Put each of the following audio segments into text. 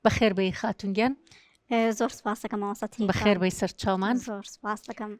بەخێر بێی خاتون گیان زۆر سپاسەکە ماوەسەتی بەخێر بەی سەر چاومان زۆر سپاسەکەم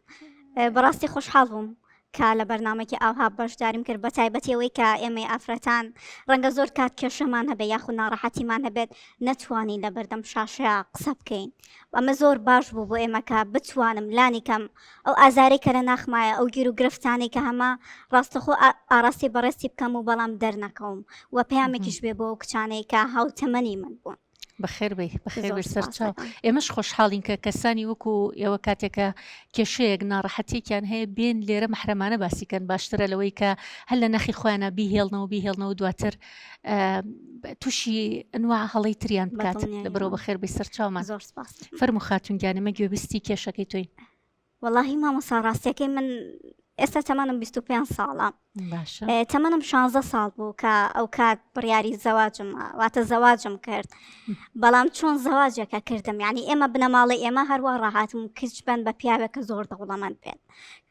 بەڕاستی خۆشحاڵ بووم کە لە بەرنمەکی ئاها بەشداریم کرد بە تایبەتەوەی کە ئێمەی ئافرەتان ڕەنگە زۆر کات کێشەمان هەبێ یاخو ناڕەحەتیمان هەبێت نەتوانین لە بەردەم شاشەیە قسە بکەین ئەمە زۆر باش بوو بۆ ئێمەکە بتوانم لانی کەم ئەو ئازارەی کە لە ناخمایە، ئەو گیر و گرفتانەی کە هەمە، ڕاستەخۆ ئاڕاستی بەڕێزتی بکەم و بەڵام دەرنەکەوم و پەیامێکیش بێ بۆ ئەو کچانەی کە هاوتەمەنی من بوون. بەخێربێی بەخێربێی سەرچاو ئێمەش خۆشحاڵین کە کەسانی وەکو ئێوە کاتێکە کێشەیەک ناڕەحەتێکیان هەیە بێن لێرە محرەمانە باسیکەن باشترە لەوەی کە هەر لە نەخی خۆیانە بیهێڵنەوە بیهێڵنەوە دواتر تووشی ئەنوا هەڵی تریان بکات لە بەرەوە بە خێربی سەرچاومان زۆر سپاس فەرمو خاتونگیانەمە گوێبیستی کێشەکەی توی وەڵی مامۆسا ڕاستیەکەی من ئێستا تەمانم 25 ساڵە تەمەنم 16 ساڵ بوو کە ئەو کات بڕیاری زەواجم واتە زەواجم کرد بەڵام چۆن زەواجەکە کردم یعنی ئێمە بنەماڵی ئێمە هەروە ڕاهاتم کچ بن بە پیاوێکە زۆر دەوڵەمەند بێت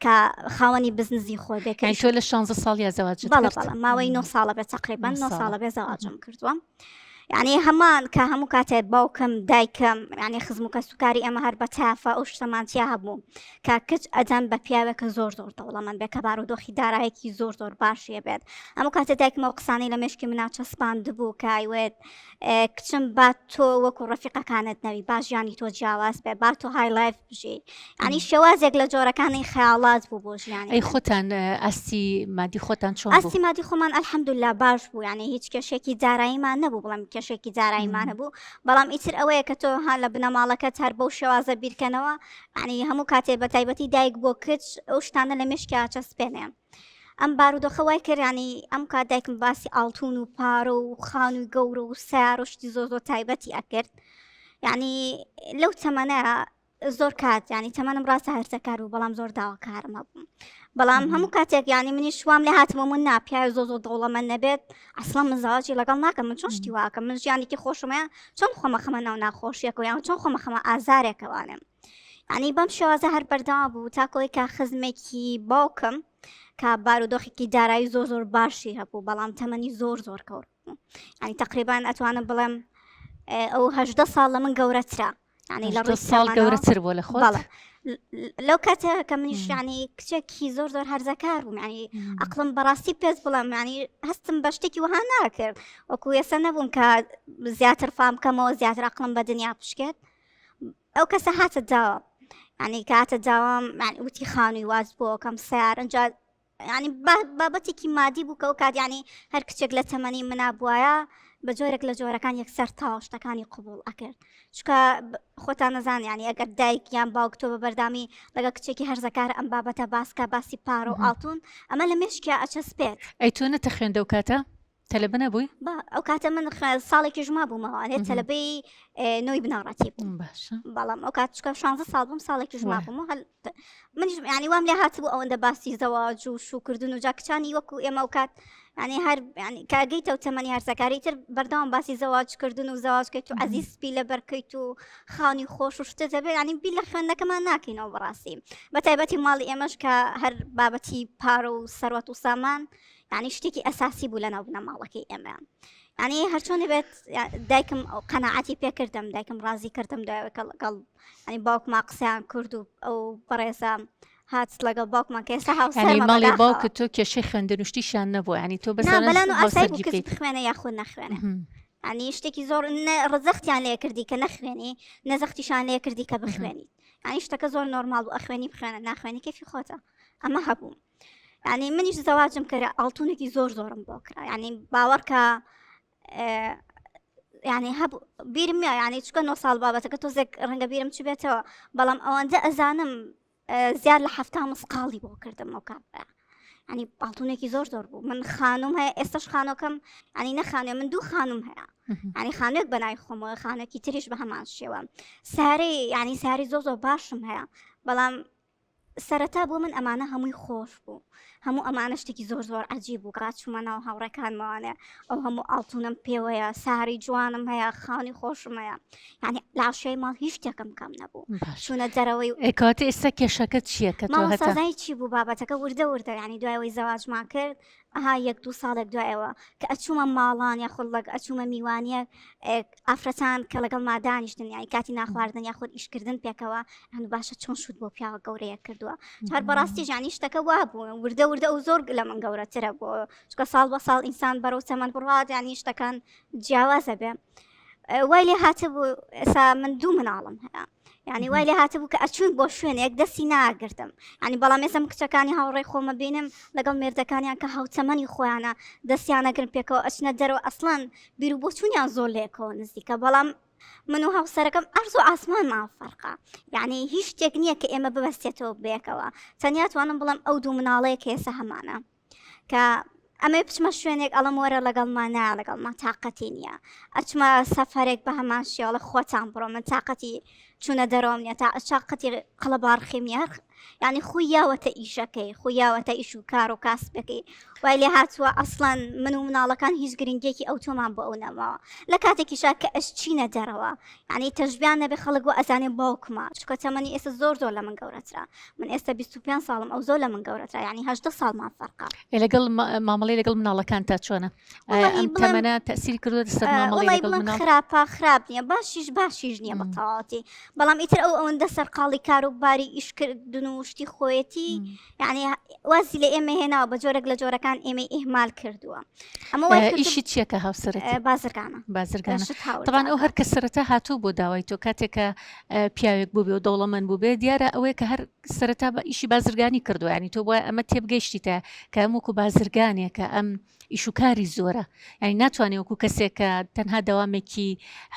کە خاوەنی بزنزی خۆ بێ کە تۆ لە 16 ساڵ یا زەواج ماوەی 9 ساڵە بێ تقریبان 9 ساڵە بێ زەواجم کردووە. یعنی هەمان کە هەموو کاتێ باوکم دایکم یعنی خزم و کەسوکاری ئەمە هەر بە تافە ئەو شتەمانتیا هەبوو کە کچ ئەدەم بە پیاوێکە زۆر زۆر دەوڵەمەن بێ کە بار و دۆخی دارایەکی زۆر زۆر باشیە بێت ئەمە کاتێ دایکمەوە قسانی لە مشکی مناچە سپاند بوو کایوێت کچم با تۆ وەکو ڕفیقەکانت نەوی با ژیانی تۆ جیاواز بێ با تۆ های لایف بژی ئەنی شێوازێک لە جۆرەکانی خەیاڵات بوو بۆ ژیانی ئەی خۆتان ئەستی مادی خۆتان چۆن ئەستی مادی خۆمان ئەلحەمدولا باش بوو یعنی هیچ کێشێکی داراییمان نەبوو بڵم کێشێکی داراییمانە بوو بەڵام ئیتر ئەوەیە کە تۆ هەان لە بنەماڵەکەت هەر بەو شێوازە بیرکەنەوە عنی هەموو کاتێ بە تایبەتی دایک بۆ کچ ئەو شتانە لە مشکیا چەسپێنێ ئەم بارودۆخە وای کرد ینی ئەم کات دایکم باسی ئاڵتون و پارە و خان و گەورە و سارۆشتی زۆر زۆر تایبەتی ئەکرد یعنی لەو تەمەە زۆر کات ینی تەمەنم ڕاستە هەرسەکار و بەڵام زۆر داواکارمە بووم بەڵام هەموو کاتێک ینی منی شوام لە هاتمە من ناپیا زۆ زۆ دەوڵەمە نەبێت ئەسڵە مزاجی لەگەڵ ناکەم من چۆن شتی واکەم من ژیانێکی خۆشمەیە چۆن خۆمە خەمە ناو ناخۆشیەکە یان چۆن خۆمە خەمە ئازارێکەوانم یعنی بەم شێوازە هەر بەردەوا بوو تاکۆ ئەوەی کە خزمێکی باوکم کە بارودۆخێکی دارایی زۆر زۆر باشی هەبوو بەڵام تەمەنی زۆر زۆر کەوت بوو. یعنی تقریبان ئەتوانم بڵێم اه، ئەو هەژدە ساڵ لە من گەورەترە یعنی لە هەژدە ڕووی ساڵ تەمەنەوە. گەورەتر بووە لە خۆت بەڵێ ل- ل- لەو کاتە کە منیش مم. یعنی کچێکی زۆر زۆر هەرزەکار بووم یعنی مم. ئەقلم بەڕاستی پێست بڵێم ینی هەستم بە شتێکی وەها ناکرد وەکو ئێستا نەبووم کە زیاتر فام بکەمەوە زیاتر ئەقلم بە دنیا بشکێت ئەو کەسە هاتە داوە ینی کاتە داوام وتی خانووی واز بۆکەم سیار ئەجا ینی بابەتێکی مادی بوو کە و کات ینی هەر کچێک لە تەمەنی منا بواە بە جۆرێک لە جۆرەکان یەکسەر تاواشتەکانی قوبول ئەکرد چکە خۆتان نەزان ینی ئەگەر دایک یان باوکتۆ بە بەردامی لەگە کچێکی هەرزەکار ئەم بابەتە باسکە باسی پارە و ئاڵتون ئەمە لە مشکیا ئەچەسپێت ئەی تۆ نەتە خوێندە و کاتە تەلەبە نەبووی با ئەو کاتە من ساڵێکیش ما بوومەوە ئەێ تەلەبەی نۆی بناڕەتی بووم بەڵام ئەو کات چکە شانزە ساڵ بووم ساڵێکیش ما بووم هەل منش ینی وام لێ هاتبوو ئەوەندە باسی زەواج و شوکردن و جاکچانی وەکو ئێمە و کات ینی هەر کاگەیتە و تەمەنی هەرسەکاری تر بەردەوام باسی زەواجکردن و زەواجکەیت و عزیز سپی لە بەرکەیت و خانی خۆش و شتە دەبێت ینی بی لە خوێندەکەمان ناکەینەوە بەڕاستی بە تایبەتی ماڵی ئێمەش کە هەر بابەتی پارە و سەروەت و سامان یعنی شتێکی ئەساسی بوو لە ناو بنەماڵەکەی ئێمەیان یعنی هەرچۆنی بێت دایکم ئەو قەنەعاتی پێکردم دایکم ڕازی کردم دوایەکە لەگەڵ ئەنی باوکما قسەیان کرد و ئەو بەڕێزە هات لەگەڵ باوکمان کە ئێستا هاوسەرماڵی باوکە تۆ کێشەی خوێندنوشتیشیان نەبوو ینی تۆ بە خوێنە یاخود نەخوێنە ئەنی شتێکی زۆر ڕزەختیان لێ کردی کە نەخوێنی نەزەختیشان لێ کردی کە بخوێنی ئەنی شتەکە زۆر نۆرمال و ئەخوێنی بخوێنە ناخوێنی کەفی خۆتە ئەمە هەبوو ینی منیش زەواجم کە ئاڵتونێکی زۆر زۆرم بۆ کرا ینی باوەڕکە ینی هەب بیرم نیە ینی چکە نۆ ساڵ بابەتەکە تۆزێک ڕەنگە بیرم چ بێتەوە بەڵام ئەوەندە ئەزانم زیاد لە هەفتا مسقاڵی بۆ کردم ئەو کاپ ینی پاڵتونێکی زۆر زۆر بوو من خانم هەیە ئێستش خانۆکەم ینی نەخانێ من دوو خانم هەیە ینی خانێک بەنای خۆمەوە خانەکی تریش بە هەمان شێوە سارەی ینی ساری زۆ زۆر باشم هەیە بەڵام سەرەتا بۆ من ئەمانە هەمووی خۆش بوو هەموو ئەمانە شتێکی زۆر زۆر عجیب بوو کە چوومە ناو هاوڕێکانمەوانێ ئەو هەموو ئاڵتونم پێوەیە ساری جوانم هەیە خانی خۆشم هەیە یعنی لاشەی ماڵ هیچ شتێکم کەم نەبوو چونە دەرەوەی ئەکات ئێستا کێشەکە چییە کە سازای چی بوو بابەتەکە وردە وردە ینی دوایەوەی زەواجمان کرد ئەها یەک دوو ساڵێک دوای ئەوە کە ئەچوومە ماڵان یا خۆڵک ئەچوومە میوانیەک ئافرەتان کە لەگەڵ مادانیشتن یانی کاتی ناخواردن یا خۆت ئیشکردن پێکەوە هەن باشە چۆن شوت بۆ پیاوە گەورەیە کردووە هەر بەڕاستی ژانی شتەکە وا بوو وردە وردە و زۆر لە من گەورەترە بۆ چکە ساڵ بە ساڵ ئینسان بەرەو تەمەند بڕات ینی شتەکان جیاوازە بێ وای لێ هاتە بوو ئێسا من دوو مناڵم هەیە ینی وای لێ هاتبوو کە ئەچوون بۆ شوێنێک دەستی ناگرتم ینی بەڵام ێسم کچەکانی هاوڕێ خۆمە بینم لەگەڵ مردەکانیان کە هاوتەمەنی خۆیانە دەستیانەگرن پێکەوە ئەچنە دەرەوە ئەسڵان بیر و بۆچوونیان زۆر لێکەوە نزیکە بەڵام من و هاوسەرەکەم ئەرز و ئاسمانمان فەرقا یعنی هیچ شتێک نییە کە ئێمە ببەستێتەوە بێکەوە تەنیا توانم بڵم ئەو دوو مناڵەیە کێسە هەمانە کە ئەمەی بچمە شوێنێک ئەڵم وەرە لەگەڵ مانا لەگەڵ ما تااقەتی نییە ئەچمە سەفرێک بە هەمان شێڵە خۆتان بڕۆ من تااقەتی چونە دەرەوەم نیە تا ئەشاقەتی قەڵەبارخیم یاخ یعنی خو یاوەتە ئیشەکەی خو یاوەتە ئیش و کار و کاسبەکەی وای لێ هاتووە ئەسڵەن من و مناڵەکان هیچ گرنگێکی ئەو تۆمان بۆ ئەو نەماوە لە کاتێکیشا کە ئەش چینە دەرەوە یعنی تەژبیان نەبێ خەڵک و ئەزانێ باوکمە چکە تەمەنی ئێستا زۆر زۆر لە من گەورەترە من ئێستا 25 ساڵم ئەو زۆر لە من گەورەتە ینی هەشدە ساڵمان فەرقا لەگەڵ مامەڵی لەگەڵ مناڵەکان تا چۆنە ئەم تەمەە تەسیر کردو سەرماڵی خراپە خراپ نییە باشیش باشیش نییە بە تەواتی بەڵام ئیتر ئەو ئەوەندە سەرقاڵی کار و باری ئیشکردن و شتی خۆیەتی یعنی وازی لە ئێمە هێناوە بە جۆرەك لە جۆرەکان ئێمە ئیهمال کردووە ئەمە ئیشی چیەکە هاوسەر بازرگانە بازرگانە تاوان ئەو هەر کە سەرەتا هاتوو بۆ داوای تۆ کاتێکە پیاوێک بوبێ و دەوڵەمەند بوبێ دیارە ئەوەیە کە هەر سەرەتا بە ئیشی بازرگانی کردوە ینی تۆ وای ئەمە تێبگەیشتیتە کە ئەم وەکو بازرگانێکە ئەم ئیشوکاری زۆرە ینی ناتوانێ وەکو کەسێکە تەنها دەوامێکی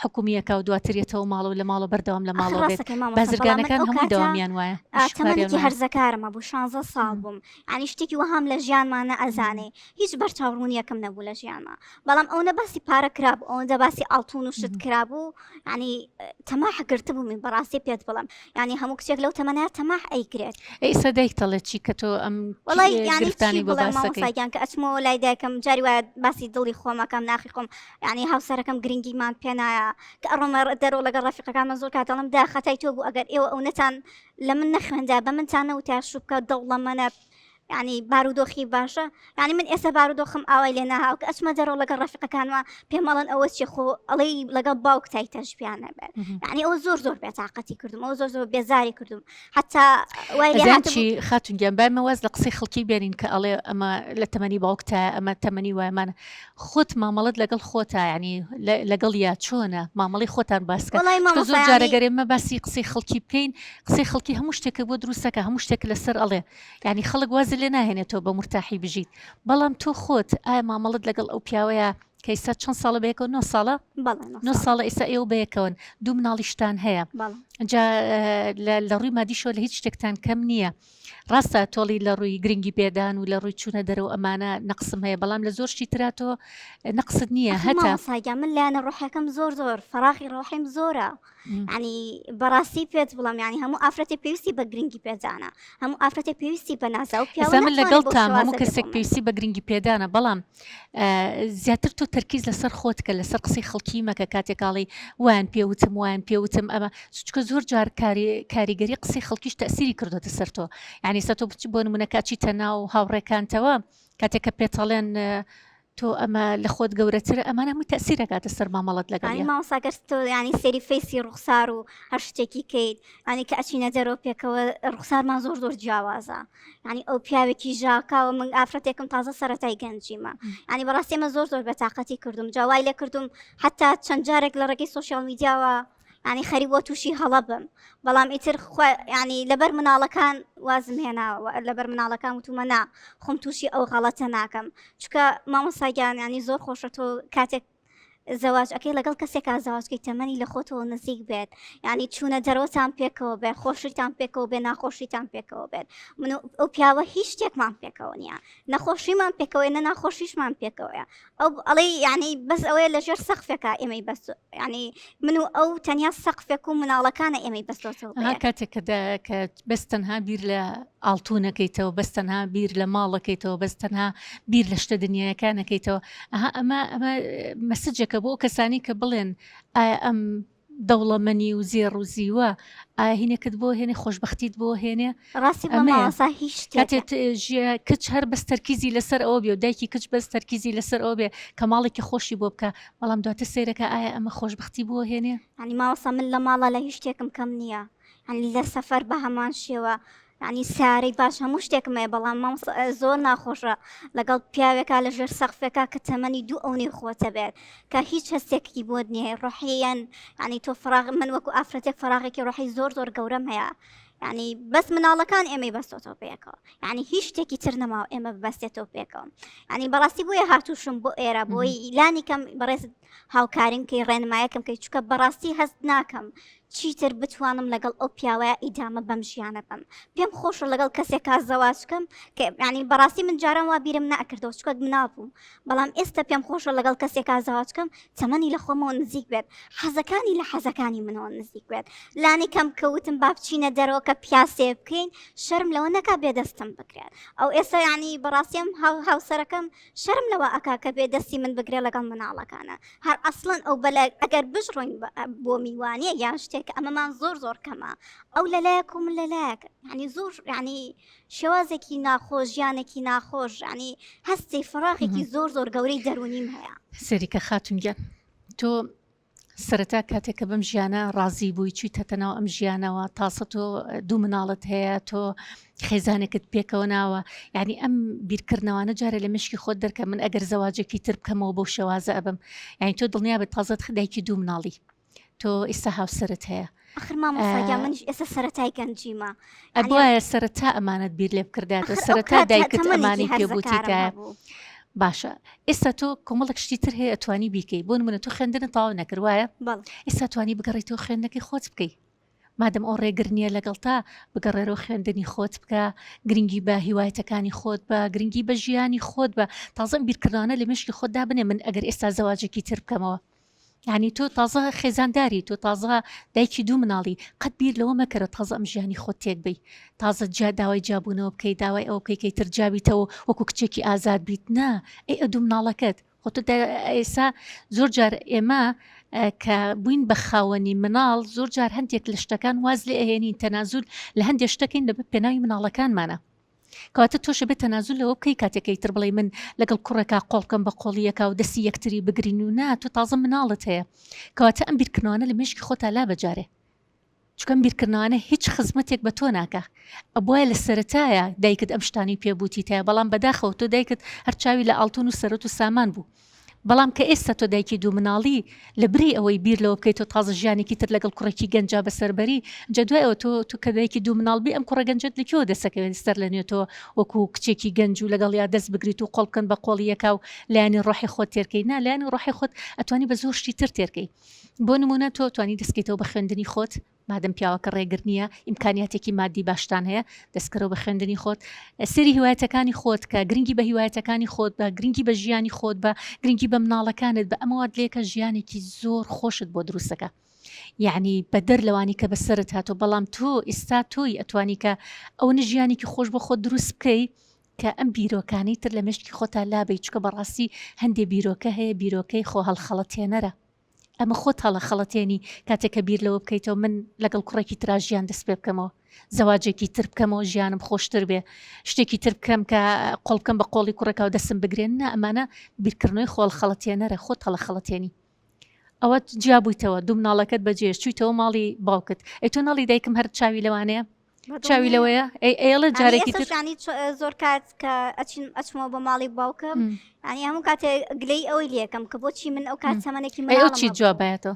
حکومیەکە و دواترێتەوە ماڵە و لە ماڵە بەردەوام لە ماڵەوە بێت بازرگانەکان هەموو دەوامیان وایە ئاشتمەێکی هەرزەکارمە بوو شانزە ساڵ بووم ینی شتێکی وەهام لە ژیانمانە ئەزانێ هیچ بەرچاوڕوونیەکەم نەبوو لە ژیانمە بەڵام ئەوەنە باسی پارە کرابوو ئەوەندە باسی ئاڵتون و شت کرابوو ینی تەماح گرتبوو من بەڕاستی پێت بڵم ینی هەموو کچێک لەو تەمەە تەماح ئەیکرێت ئەی سەدایک دەڵێت چی کە تۆ ئەم وڵیانی بڵێمەساگیان کە ئەچمەوە لای دایکم جاری وایە باسی دڵی خۆمەکەم ناخی خۆم ینی هاوسەرەکەم گرنگیمان پێنایە کە ئەڕۆمە دەرۆ لەگە ڕفیقەکانمە زۆر کاتەڵم دا خەتای تۆ بوو ئەگەر ئێوە ئەو نەتان لە من نەخوێندا بە منتانە و تاشوبکە دەوڵەمەە یانی بارودۆخی باشە یانی من ئێستا بارودۆخم ئاوای لێ ناهاو کە ئەچمە دەرەوە لەگەڵ ڕەفقەکانوە پێمەڵن ئەوە چی خۆ ئەڵەی لەگەڵ باوک تای تەژبیانە بێت یعنی ئەو زۆر زۆر بێتاقەتی کردم ئەو زۆر زۆر بێزاری کردم حتا وایچی خاتونگیان بایمەوەز لە قسەی خەڵکی بێنین کە ئەڵێ ئەمە لە تەمەنی باوکتە ئەمە تەمەنی وایمانە خۆت مامەڵت لەگەڵ خۆتا ینی لەگەڵ یا چۆنە مامەڵی خۆتان باسکە زۆر جارەگەرێمە باسی قسەی خەڵکی بکەین قسەی خەڵکی هەموو شتێکە بۆ دروستەکە هەموو شتێک لەسەر ئەڵێ یانی خەڵک وازت لێ ناهێنێت تۆ بە مورتاحی بژیت بەڵام تۆ خۆت ئایا مامەڵت لەگەڵ ئەو پیاوەیە کە ئیستا چەند ساڵە بەیەکەوە نۆ ساڵە بەڵێ نۆ نۆ ساڵ ساڵە ئیستا ئێوە بەیەکەوەن دوو مناڵیشتان هەیە بەڵێ جا اه، لە لە ڕووی مادیشەوە لە هیچ شتێکتان کەم نییە ڕاستە تۆڵی لە ڕووی گرنگی پێدان و لە ڕووی چوونە دەرەوە ئەمانە نەقسم هەیە بەڵام لە زۆر شتی ترا تۆ نەقست نییە ئەخی هەتا مامۆستا گیان من لایەنە ڕۆحیەکەم زۆر زۆر فەراغی ڕۆحیم زۆرە ینی بەڕاستی پێت بڵم ینی هەموو ئافرەتی پێویستی بە گرنگی پێدانە هەموو ئافرەتی پێویستی بە ناسا و پیاوە من لەگەڵ تا هەموو کەسێک پێویستی بە گرنگی پێدانە بەڵام زیاتر تۆ تەرکیز لەسەر خۆت کە لەسەر قسەی خەڵکی مەکە کاتێکاڵی وان پێوتم وان پێوتم ئەمە چچکە زۆر جار کاریگەری قسەی خەڵکیش تەسیری کردوتە سەر تۆ ینی سە تۆ بچ بۆ نمونەکچی تەناو هاوڕێکانتەوە کاتێک کە پێتەڵێن تۆ ئەمە لە خۆت گەورەترە ئەمانە هەمووی تەسیر دەکاتە سەر مامەڵەت لەگەڵ یانی یان مامۆستا گەر تۆ یانی سەیری فەیسی ڕوخسار و هەر شتێکی کەیت یانی کە ئەچینە دەرەوە پێکەوە ڕوخسارمان زۆر زۆر جیاوازە یانی ئەو پیاوێکی ژاکاوە من ئافرەتێکم تازە سەرەتای گەنجیمە یانی بەڕاستی ئەمە زۆر زۆر بە تاقەتی کردوم جا وای لێ کردوم حتا چەند جارێک لە ڕێگەی سۆشیال میدیاوە ینی خەری بۆ تووشی هەڵە بم بەڵام ئیتر ینی لەبەر مناڵەکان وازم هێناوە لەبەر مناڵەکان وتومەنا خۆم تووشی ئەو غەڵەتە ناکەم چکە مامۆساگیان ینی زۆر خۆشە تۆ کاتێک زەواج ئەەکەی لەگەڵ کەسێکا زەواجکەی تەمەنی لە خۆتەوە نزیک بێت ینی چوونە دەرەوەتان پێکەوە بێ خۆشیتان پێکەوە بێ ناخۆشیتان پێکەوە بێت من ئەو پیاوە هیچ شتێکمان پێکەوە نیە نەخۆشیمان پێکەوەی نە ناخۆشیشمان پێکەوەیە ئەو ئەڵی یعنی بەس ئەوەیە لە ژێر سەقفێکە ئێمەی بەس ینی من و ئەو تەنیا سەقفێک و مناڵەکانە ئێمەی بەستۆتەوە کاتێک کە بەس تەنها بیر لە ئاڵتونەکەیتەوە بەس تەنها بیر لە ماڵەکەیتەوە بەس تەنها بیر لە شتە دنیایەکانەکەیتەوە ئەها ئەمە ئەمە مەسجەکە بۆ کەسانی کە بڵێن ئایا ئەم دەوڵەمەنی و زێڕ و زیوە ئاهینەکەت بۆ هێنێ خۆشببختیت بۆ هێنێ ڕاستی بەماسا هیچ کاتێت ژە کچ هەر بەس تەرکیزی لەسەر ئەو بێ و دایکی کچ بەس تەرکیزی لەسەر ئەو بێ کە ماڵێکی خۆشی بۆ بکە بەڵام دواتە سیرەکە ئایا ئەمە خۆشببختی بۆ هێنێ ئەنی ماوەسا من لە ماڵە لە هیچ شتێکم کەم نییە یانی لە سەفەر بە هەمان شێوە ینی سارەی باش هەموو شتێکم هەیە بەڵام مام زۆر ناخۆشە لەگەڵ پیاوێکا لە ژێر سەخفێکا کە تەمەنی دوو ئەو نێ خۆتە بێت کە هیچ هەستێکی بۆت نییە ڕحیەن ینی تۆ فراغ من وەکو ئافرەتێک فراغێکی ڕحی زۆر زۆر گەورەم هەیە ینی بەس مناڵەکان ئێمەی بەستۆتەوە پێکەوە ینی هیچ شتێکی تر نەماوە ئێمە بەستێتەوە پێکەوە ینی بەڕاستی بۆیە هاتووشم بۆ ئێرە بۆی لانی کەم بەڕێز هاوکاریم کەی ڕێنمایەکم کەی چوکە بەڕاستی هەست ناکەم چیتر بتوانم لەگەڵ ئەو پیاوەیە ئیدامە بەم ژیانە بم پێم خۆشە لەگەڵ کەسێک کا زەواچکەم کە ینی بەڕاستی من جاران وا بیرم ناکردەوە چکەک منابووم بەڵام ئێستا پێم خۆشە لەگەڵ کەسێک کا زەواچکەم تەمەنی لە خۆمەوە نزیک بێت حەزەکانی لە حەزەکانی منەوە نزیک بێت لانی کەم کەوتم با بچینە دەرەوە کە پیاسێ بکەین شەرم لەوە نەکا بێدەستم بکرێت ئەو ئێستا ینی بەڕاستیم هاوسەرەکەم شەرم لەوە ئەکا کە بێ دەستی من بگرێ لەگەڵ مناڵەکانە هەر ئەسڵەن ئەو بەلە ئەگەر بژڕۆین بۆ میوانە یان شتێک ئەمەمان زۆر زۆر کەمە ئەو لەلایەک و من لەلایەک ینی زۆر ینی شێوازێکی ناخۆش ژیانێکی ناخۆش ینی هەستی فراغێکی زۆر زۆر گەورەی دەرونیم هەیە سەریکە خاتونگیان تۆ سەرەتا کاتێک کە بەم ژیانە ڕازی بووی چویتەتە ناو ئەم ژیانەوە تاسە تۆ دوو مناڵت هەیە تۆ خێزانێکت پێکەوە ناوە یعنی ئەم بیرکردنەوانە جارێ لە مشکی خۆت دەرکە من ئەگەر زەواجێکی تر بکەمەوە بۆ شێوازە ئەبم یعنی تۆ دڵنیابێت تازەت خدایکی دوو مناڵی تۆ ئیستا هاوسرت هەیە ئەخر مامۆستا گیان منیش ئێستا سەرەتای گەنجیمە ئە بۆایە سەرەتا ئەمانەت بیر لێ بکرداتەوە ئەخر ئەو سەرەتا کات دایکت تەمەنێکی ئەمانی پێ هەرزەکارم بوتیتایە هەبوو باشە ئێستا تۆ کۆمەڵک شتی تر هەیە ئەتوانی بیکەی بۆ منە تۆ خوێندنت تەواو نەکرد وایە بەڵێ ئێستا توانی بگەڕیتەوە خوێندنەکەی خۆت بکەی مادەم ئەو ڕێگر نییە لەگەڵ تا بگەڕێرەوە خوێندنی خۆت بکە گرنگی بە هیوایەتەکانی خۆت بە گرنگی بە ژیانی خۆت بە تازەم بیرکردانە لە مشکی خۆتدا بنێ من ئەگەر ئێستا زەواجێکی تر بکەمەوە یانی تۆ تازە خێزانداری تۆ تازە دایکی دوو مناڵی قەت بیر لەوە مەکەرە تازە ئەم ژیانی خۆت تێک بی تازە جیا داوای جیابوونەوە بکەیت داوای ئەو بکەیت کەی تر جیابیتەوە وەکو کچێکی ئازاد بیت نا ئەی ئە دوو مناڵەکەت خۆ تۆ ئێسا زۆر جار ئێمە کە بووین بە خاوەنی مناڵ زۆر جار هەندێک لە شتەکان واز لێ ئەهێنین تەنازول لە هەندێک شتەکەین لە پێناوی مناڵەکانمانە کەواتە تۆش ئەبێ تەنازول لەوە بکەی کاتێک ئەیتر بڵێی من لەگەڵ کوڕێکا قۆڵ بکەم بە قۆڵی یەکا و دەستی یەکتری بگرین و نا تۆ تازە مناڵت هەیە کەواتە ئەم بیرکردنەوانە لە مێشکی خۆتا لا بەجارێ چکەم بیرکردنەوانە هیچ خزمەتێک بە تۆ ناکە ئەبواە لە سەتایە دایکت ئەم شتانی پێبووتی تایە بەڵام بەداخەوە تۆ دایکت هەرچاوی لە ئاڵتون و سەرەت و سامان بوو بەڵام کە ئێستا تۆ دایکی دوو مناڵی، لە بری ئەوەی بیر لەوە بکەی تۆ تازە ژیانێکی تر لەگەڵ کوڕێکی گەنجا بەسەر بەری، ئینجا دوای ئەوە تۆ تۆ کە دایکی دوو مناڵ بی ئەم کوڕە گەنجەت لە کوێوە دەست ئەکەوێت سەر لە نوێ تۆ وەکو کچێکی گەنج و لەگەڵیا دەست بگریت و قۆڵ بکەن بە قۆڵی یەکا و لایەنی ڕۆحی خۆت تێر کەی؟ نا لایەنی ڕۆحی خۆت ئەتوانی بە زۆر شتی تر تێر کەی بۆ نموونە تۆ ئەتوانی دەست کەیتەوە بە خوێندنی خۆت، مادەم پیاوەکە ڕێگر نییە، ئیمکانیاتێکی ماددی باشتان هەیە، دەستکەرەوە بە خوێندنی خۆت، سەیری هیوایەتەکانی خۆت کە، گرنگی بە هیوایەتەکانی خۆت بە، گرنگی بە ژیانی خۆت بە، گرنگی بە مناڵەکانت بە، ئەمە وات لێکە ژیانێکی زۆر خۆشت بۆ دروست دەکا، یەعنی بەدەر لەوانی کە بە سەرت هاتووە، بەڵام تۆ ئیستا تۆی ئەتوانی کە ئەونە ژیانێکی خۆش بۆ خۆت دروست بکەی کە ئەم بیرۆکانەی تر لە مێشکی خۆتا لابەی، چونکە بەڕاستی هەندێ بیرۆکە هەیە بیرۆکەی خۆ هەڵخەڵەتێنەرە. ئەمە خۆت هەڵەخەڵەتێنی کاتێک کە بیر لەوە بکەیتەوە من لەگەڵ کوڕێکی ترا ژیان دەست پێ بکەمەوە زەواجێکی تر بکەمەوە ژیانم خۆشتر بێ شتێکی تر بکەم کە قۆڵکەم بە قۆڵی کوڕێکا و دەستم بگرێن نا ئەمانە بیرکردنەوەی خۆڵ خەڵەتێنەرە خۆت هەڵەخەڵەتێنی ئەوە جیا بوویتەوە دوو مناڵەکەت بەجێش چوویتەوە ماڵی باوکت ئەی تۆ ناڵی دایکم هەر چاوی لەوانەیە چاوی لەوەیە ئێڵە جارێکی ترشانی زۆر کات کە ئەچین ئەچمەوە بە ماڵی باوکم ئەنی هەموو کاتێ گلەی ئەوەی لەکەم کە بۆچی من ئەو کات تەمەێکی من چی جوابێتەوە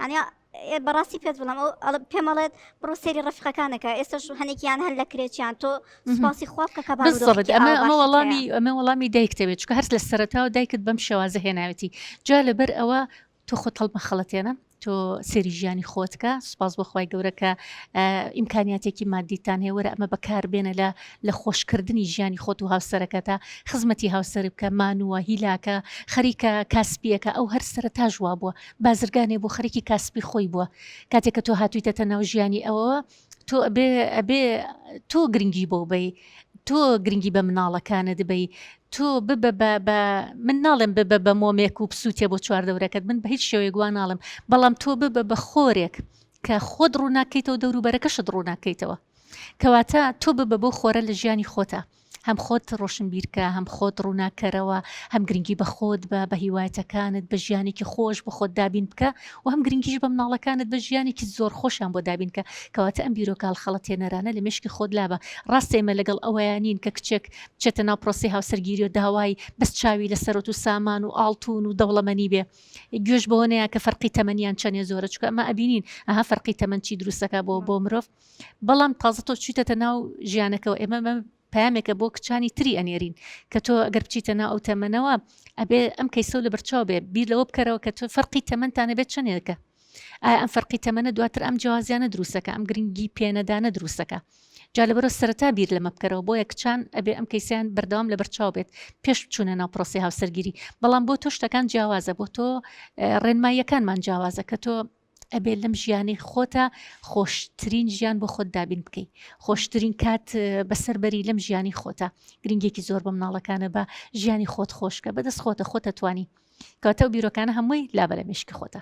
ئەنیا بەڕاستی پێت بڵم ئەو پێمەڵێت بڕۆ سێری ڕفقەکانەکە ئێستش هەنێکیان هەر لە کرێکیان تۆ سپاسی خواب کە کەبارڕێت ئەمە ئەمە وەڵامی ئەمە وەڵامی دایکتەوێت چکە هەر لە سەرەتاوە دایکت بەم شێوازە هێناوێتی جا لەبەر ئەوە تۆ خۆت هەڵمەخەڵەتێنە تۆ سێری ژیانی خۆت کە سوپاس بۆ خوای گەورە کە ئیمکانیاتێکی مادیتان هەیە وەرە ئەمە بەکاربێنە لە لە خۆشکردنی ژیانی خۆت و هاوسەرەکەتە خزمەتی هاوسەر بکە مانووە هیلاکە خەریکە کاسپیەکە ئەو هەر سرە تاژ وا بووە بازرگانێ بۆ خەرکی کاسپی خۆی بووە کاتێککە تۆ هاتوویتەتە ناو ژیانی ئەوەوە تۆ ئەبێ ئەبێ تۆ گرنگی بۆ بەی تۆ گرنگی بە مناڵەکانت بی تۆ ببە بە بە من ناڵێم ببە بە مۆمێک و پسووتێ بۆ چواردەورەکەت من بە هیچ شێوەیە گووان ناڵم بەڵام تۆ ببە بە خۆرێک کە خۆت ڕووناکەیتەوە دەوروبەرەکەشت ڕووناکەیتەوە کەواتە تۆ ببە بۆ خۆرە لە ژیانی خۆتە هەم خۆت ڕۆشنبیرکە هەم خۆت ڕووناککەرەوە، هەم گرنگی بە خۆت بە، بە هیوایەتەکانت، بە ژیانێکی خۆش بۆ خۆت دابین بکە و هەم گرنگیش بە مناڵەکانت بە ژیانێکی زۆر خۆشیان بۆ دابین کە، کەواتە ئەم بیرۆکە هەڵخەڵەتێنەرانە لە مێشکی خۆت لابە، ڕاستە ئێمە لەگەڵ ئەوەیا نین کە کچێک بچێتە ناو پرۆسەی هاوسەرگیری و داوای بەس چاوی لە سەرۆت و سامان و ئاڵتوون و دەوڵەمەنی بێ گوێش بەوە نەیا کە فەرقی تەمەنیان چەنێ زۆرە چونکە ئەمە ئەبینین ئەها فەرقی تەمەن چی دروست دەکا بۆ بۆ مرۆڤ. بەڵام تازە تۆ چویتەتە ناو ژیانەکەەوە ئێمە مە پامێکە بۆ کچانی تری ئەنێرین کە تۆ ئەگەر بچیتە ناو ئەو تەمەنەوە ئەبێ ئەم کەیسەو لە بەرچاو بێ بیر لەوە بکەرەوە کە تۆ فەرقی تەمەندانە بێت چنێکە ئایا ئەم فەرقی تەمەە دواتر ئەم جیازیانە دروستەکە ئەم گرنگی پێنەدانە دروستەکە جا لە بەرە سەرتا بیر لەمە بکەرەوە بۆیە کچان ئەبێ ئەم کەیسیان بەردەوام لە بەرچاو بێت پێش بچوونە ناو پرۆسی هاوسەرگیری بەڵام بۆ تۆ شتەکان جیاوازە بۆ تۆ ڕێنماییەکانمان جیاوازە کە تۆ ئەبێ لەم ژیانەی خۆتە خۆشترین ژیان بۆ خۆت دابین بکەیت خۆشترین کات بەسەر بەری لەم ژیانی خۆتە گرنگێکی زۆر بە مناڵەکانە بە ژیانی خۆت خۆشکە بەدەست خۆتە خۆتە توانی کاتە و بیرۆکانە هەمووی لابەرە مشکی خۆتە